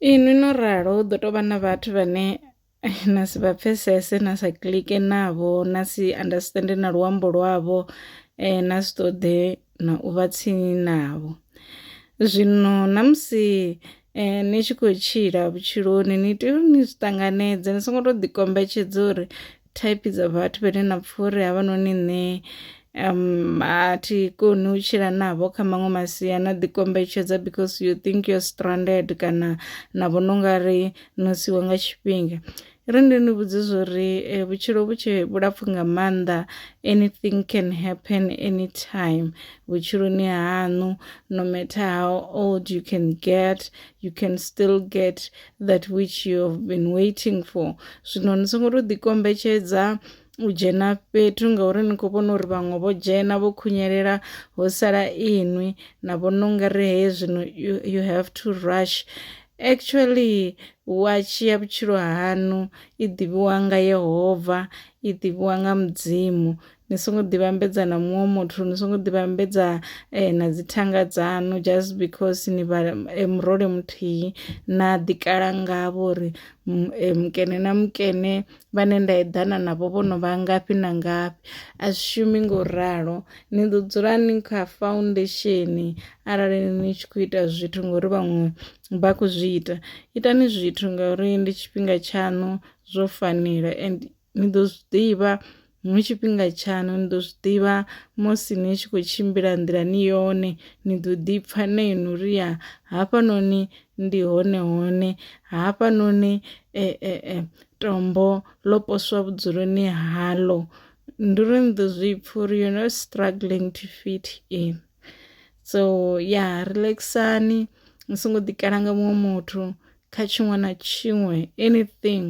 Ee no no ralo hu ḓo tovha na vhathu vhane na si vha pfesese na sa kiḽike navho na si understand na luambo lwavho na si ṱoḓe na u vha tsini navho. Zwino na musi ni tshi khou tshila vhutshiloni ni tea uri ni zwi ṱanganedze ni songo to ḓi kombetshedza uri. thaiphi dza vhathu vhane na pfha uri havhanoni nṋe um a thi koni u tshila navho kha maṅwe masia na ḓi kombetshedza because you think you're stranded kana na vhona u nga ri no siwa nga tshifhinga ri ndi ni vhudze zwo ri eh, vhutshilo vhu tshe vhulapfu nga maanḓa anything can happen anytime vhutshiloni haṋu no matter how old you can get you can still get that which you have been waiting for zwino ni songo tou ḓikombetshedza u dzhena fhethu ngauri ni khou vhona uri vhaṅwe vho dzhena vho khunyelela ho sala inwi na vhona ungari heye zwino you, you have to rush actually watshi ya vhutshilo hanu i ḓivhiwa nga yehova i ḓivhiwa nga mudzimu ni songo ḓivhambedza na muṅwe muthu ni songo ḓivhambedza eh, na dzithanga dzanu just because ni vha eh, murole muthihi na ḓikala ngavho uri eh, mukene na mukene vhane nda eḓana navho vho no vha ngafhi na ngafhi a zwi shumi ngo ralo ni ḓo dzula ni kha foundation arali ni tshi khou ita zwithu ngori vhaṅwe vha khou zwi ita itani zwithu ngauri ndi tshifhinga tshaṋu zwo fanela and ni ḓo zwi ḓivha hu tshifhinga tshaṋu ni ḓo zwi ḓivha musi ni tshi khou tshimbila nḓilani yone ni ḓo ḓi pfha na inwi uri ya hafhanoni ndi hone hone hafhanoni e, e, e, tombo ḽo poswa vhudzuloni haḽo ndi uri ni ḓo zwi pfha uri you're not struggling to fit in so ya relaxani ni songo ḓikala nga muṅwe muthu kha tshiṅwe na tshiṅwe anything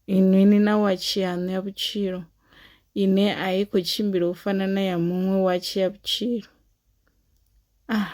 Inwi ni na watshi yaṋu ya vhutshilo ine a i khou tshimbila u fana na ya muṅwe watshi ya vhutshilo. Ah.